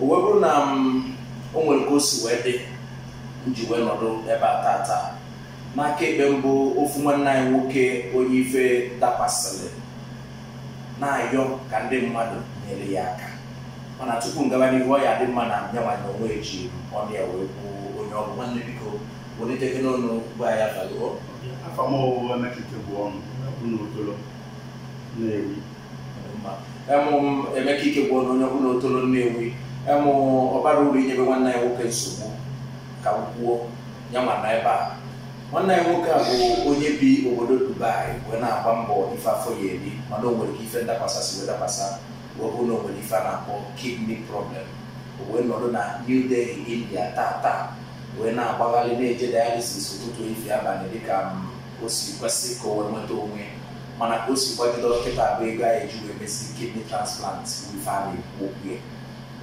o wee bụrụ na m o nwere ka o si wee dị m ji wee nọdụ ebe a tata n'aka ekpe m bụ ofu nwanne anyị nwoke onye ife dakwasịrị na-ayọ ka ndị mmadụ nyere ya aka mana tupu m gaba n'ihu ọ ya-adị mma na nyanwa na onwe ji ọnụ ya wee kwuo onye ọ bụ nwanne biko welitekene ọnụ gwa ya falụọ afa m bụ emeka ikegwuonu bụ n'otolo nnewi em m emeka ikegwuonu onye bụ n'otolo nnewi em ọ barọ uru inyebe nwanne anyị nwoke nsogbu ka m kwuo ya ma na ebe a nwanne anyị nwoke a bụ onye bi obodo dubai wee na-agba mbọ ife afọ ya eri mana o nwere ka ife ndakwasa si wee dakwasa wee bụrụ na o nwere ife a na-akpọ kidney problem o wee nọdụ na new delhi india taa taa wee na-agbagharị na-eje dialysis ụtụtụ efifie abalị dịka m o si kwesị ka o wee nweta onwe mana ka o si gbagide kịta bụ ego a ya-eji wee mesi kidney transplant ife a na-ekwu okwu ya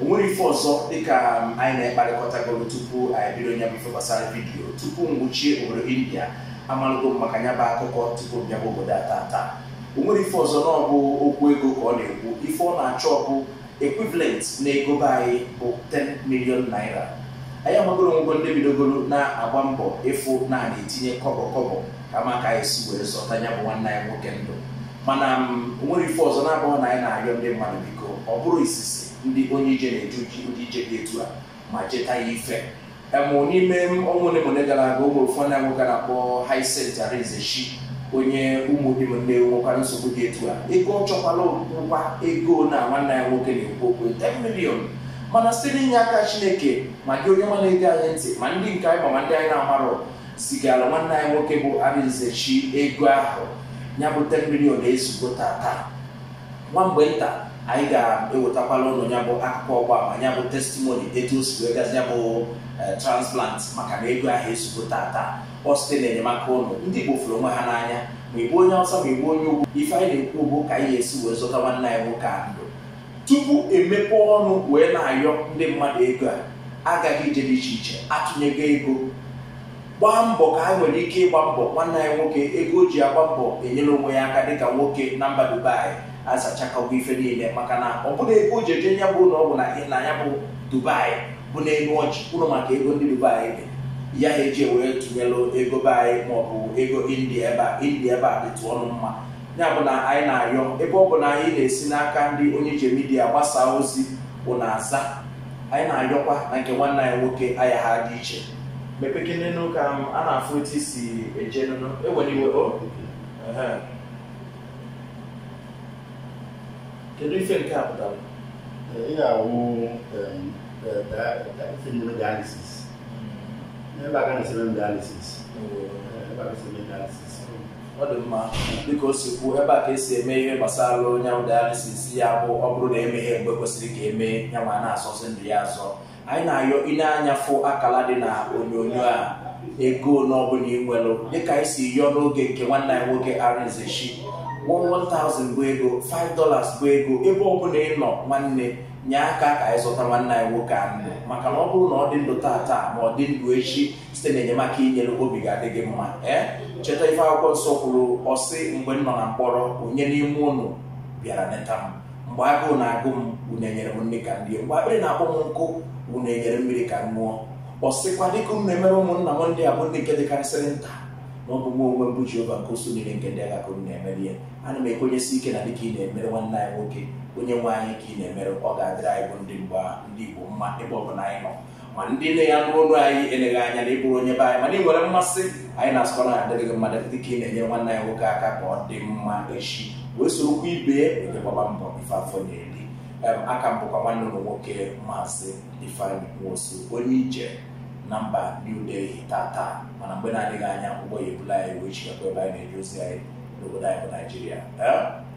o nwere ife ọzọ dịka anyị na-ekparịkọtagoro tupu anyị bido nya bụ ife gbasara vidiyo tupu m wụchie obodo india amalụgo m maka nya bụ akụkọ tupu m bịaba obodo a tata o nwere ife ọzọ na ọ bụ okwu ego ka ọ na-ekwu ife ọ na-achọ ọ bụ equivalent n'ego be anyị bụ 10 million naira anyị amagoro na e nwego ndị bidogoro na-agba mbọ ịfụ na a na-etinye kọbọ kọbọ ka maka anyị si were zọta ya bụ nwanne anyị nwoke ndụ mana o nwere ife ọzọ na-abụghị na anyị na-ayọ ndị mmadụ biko ọ bụrọ izizi ndị onye ije na-eje ụdị ije dị etu a ma cheta ya ife em n'ime ọnwa ole ma ole gara aga o nwere ofu nwanne nwoke a na-akpọ Hyacinth Arinzechi onye Ụmụdim Nnewi nwekwara nsogbu dị etu a ego ọ chọkwala bụkwa ego na nwanne anyị nwoke na-ekwu okwu 10 million mana site n'inye aka Chineke ma gị onye nwa na-ege anyị ntị ma ndị nke anyị ma ma ndị anyị na-amarọ zigara nwanne anyị nwoke bụ Arinzechi ego ahụ ya bụ 10 million ezugbo tata Nwa mgbe nta, anyị ga-ewetakwala ụnụ ya bụ akụkọ ịgba ama ya bụ testimony etu o si wee gazi ya bụ eh, transplant maka na ego ahụ ezugo tata ọ site na enyemaka ụnụ ndị Igbo fụrụ onwe ha n'anya ma ị bụ onye Hausa ma ị bụ onye ugwu ife anyị na-ekwu bụ ka anyị ga-esi wee zọta nwanne anyị nwoke a ndụ tupu e mepe ọnụ wee na-ayọ ndị mmadụ ego a agaghị ije dị iche iche atụnyego ego gbaa mbọ ka anyị nwere ike ịgba mbọ nwanne anyị nwoke ego o ji agba mbọ enyere onwe ya aka dịka nwoke na mba dubai azachakọgo ife niile maka na ọ bụrụ ego o ji eje ya bụ na ọ bụ na na ya bụ dubai bụ n'elu ọchị kwuru maka ego ndị dubai dirham eji were tụnyelụ ego be anyị maọbụ ego india ebe a india ebe a dịtụ ọnụ mma ya bụ na anyị na-ayọ ebe ọ bụ na anyị na-esi n'aka ndị onye ije midia gbasaa ozi unu aza anyị na-ayọkwa na nke nwanne anyị nwoke ayaghị adị iche mepekenenu ka m a na-afụ etu i si eje nụ unu ewena iwe o Ehe. kedu ife nke a pụtara Ị ga-awụ fimiri dialysis. Ebe a ka na-esi eme dialysis. Ebe a ka esi eme dialysis. ọ dị mma dịka o si kwuo ebe a ka esi eme ihe gbasara onye ahụ dialysis ya bụ ọ bụrụ na emeghị mgbe kwesịrị ka emee ya ma a na-azọzi ndụ ya azọ anyị na-ayọ i lee anya fụ akala dị na onyonyo a ego ole ọbụla ị nwere dịka anyị si yọọ n'oge nke nwanne anyị nwoke Arinzechi 1000 bụ ego 5 dollars bụ ego ebe ọbụla ị nọ nwanne nye aka ka anyị zọta nwanne anyị nwoke a ndụ maka na ọ bụrụ na ọ dị ndụ tata ma ọ dị ndụ echi site na enyemaka i nyere obi ga-adị gị mma ee cheta ife akwụkwọ nsọ kwuru ọ sị mgbe m nọ na mkpọrọ onye n'ime ụnụ bịara neta m mgbe agụụ na-agụ m unu enyere m nri ka m rie mgbe akpịrị na-akpọ m nkụ unu enyere m mmiri ka m ṅụọ ọ sịkwa dịka unu na-emere ụmụnna m ndị a bụ ndị nke dịkarịsịrị nta na ọ bụ mụwa onwe m bụ Jehova nke usuu niile nke ndị agha ka unu na-emere ya ana m ekwenyesi ike na dịka ị na-emere nwanne anyị nwoke onye nwe anyị ka ị na-emere ọ ga-adịrị anyị bụ ndị mgbe ndị Igbo mma ebe ọ bụla anyị nọ ma ndị niile nụrụ olu anyị eleghị anya na ị bụrọ onye be anyị mana ị nwere mmasị anyị na-asịkwa na adịrị gị mma dịka ị na-enyere nwanne anyị nwoke aka ka ọ dị mma echi wee soro oke ibe ya gbaba mbọ ife afọ na-eri Em, aka m bụkwa nwanne unu nwoke maazị ifeanyị nwosu onye ije na mba new delhi tata mana mgbe na-adịghị anya ụgbọ ya ebula anyị wee chigakwa ebe anyị na-eje ozi anyị n'obodo anyị bụ naijiria Em,